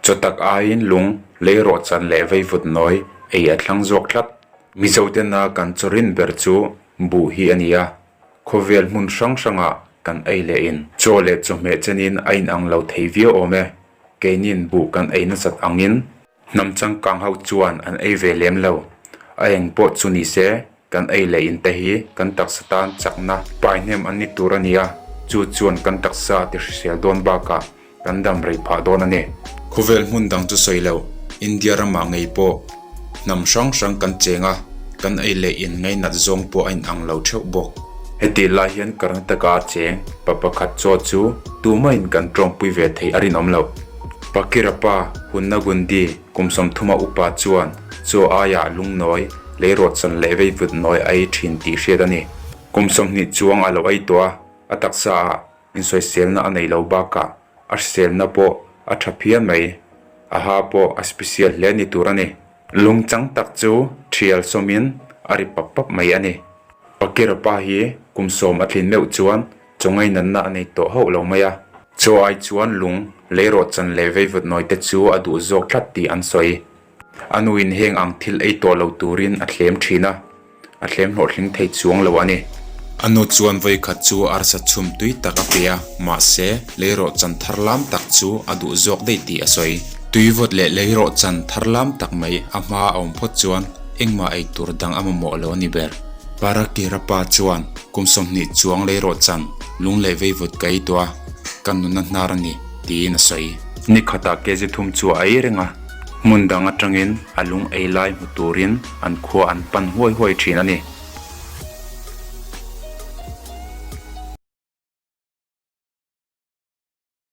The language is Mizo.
Chaw tak aiin lung lei rawh chan leh veivut nawi ei a thlang zawk tlat. Mizo tena kan chaw rin ber chu buh hi a ni a, khawvel hmun hrang hrangah kan ei leh in chaw leh chawhmeh chenin a inang lo thei viau awm e, keinin buh kan ei nasat angin. Hnam changkang ho chuan an ei ve lem lo. A eng pawh chu ni se, kan ei leh in te hi kan taksa tan chakna paihnem an ni tur a ni a, chu chuan kan taksa a ti hrisel dawn bakah kan damrei phah dawn a ni. Khawvel hmun dang chu sawi lo, India ramah ngei pawh hnam hrang hrang kan cheng a, kan ei leh in ngeinat zawng pawh a in ang lo theuh bawk. Heti lai hian Karnataka a cheng pa pakhat chaw chu tumah in kan tawngpui ve thei a rinawm lo. Pakirapa Hunnagundi kum sawmthuma upa chuan chaw aia lungnawi lei rawtsan leh veivut nawi a ei thin tih hriat a ni. Kum sawmhnih chuang a lo ei tawh a, a taksa ah insawiselna a nei lo bakah a hriselna pawh a tha phian mai. A ha pawh a special hle ni tur a ni. Lungchang tak chu thial sawmin a ri pap pap mai a ni. Pakirapa hi kum sawm a tlin meuh chuan Chawngaih natna a nei tawh hauh lo mai a. Chaw ai chuan lung, lei rawhchan leh veivut nawi te chu a duh zawk tlat tih an sawi. A nu in heng ang thil ei tawh lo turin a thlem thin a, a thlem hlawhtling thei chuang lo a ni. A nu chuan vawikhat chu arsa chhum tui tak a pe a, mahse, lei rawhchan thar lam tak chu a duh zawk daih tih a sawi. Tuivut leh lei rawhchan thar lam tak mai a hma a awm phawt chuan engmah ei tur dang a mamawh lo a ni ber. Parakira pa chuan. Kum sawmhnih chuang lei rawh chan lung leh vei vut ka ei tua, ka nunna hnar a ni, tiin a sawi. Ni khatah Kezi Thum chu a ei reng a, hmun dang atangin a lung ei lai hmu turin an khua an pan huai huai thin a ni.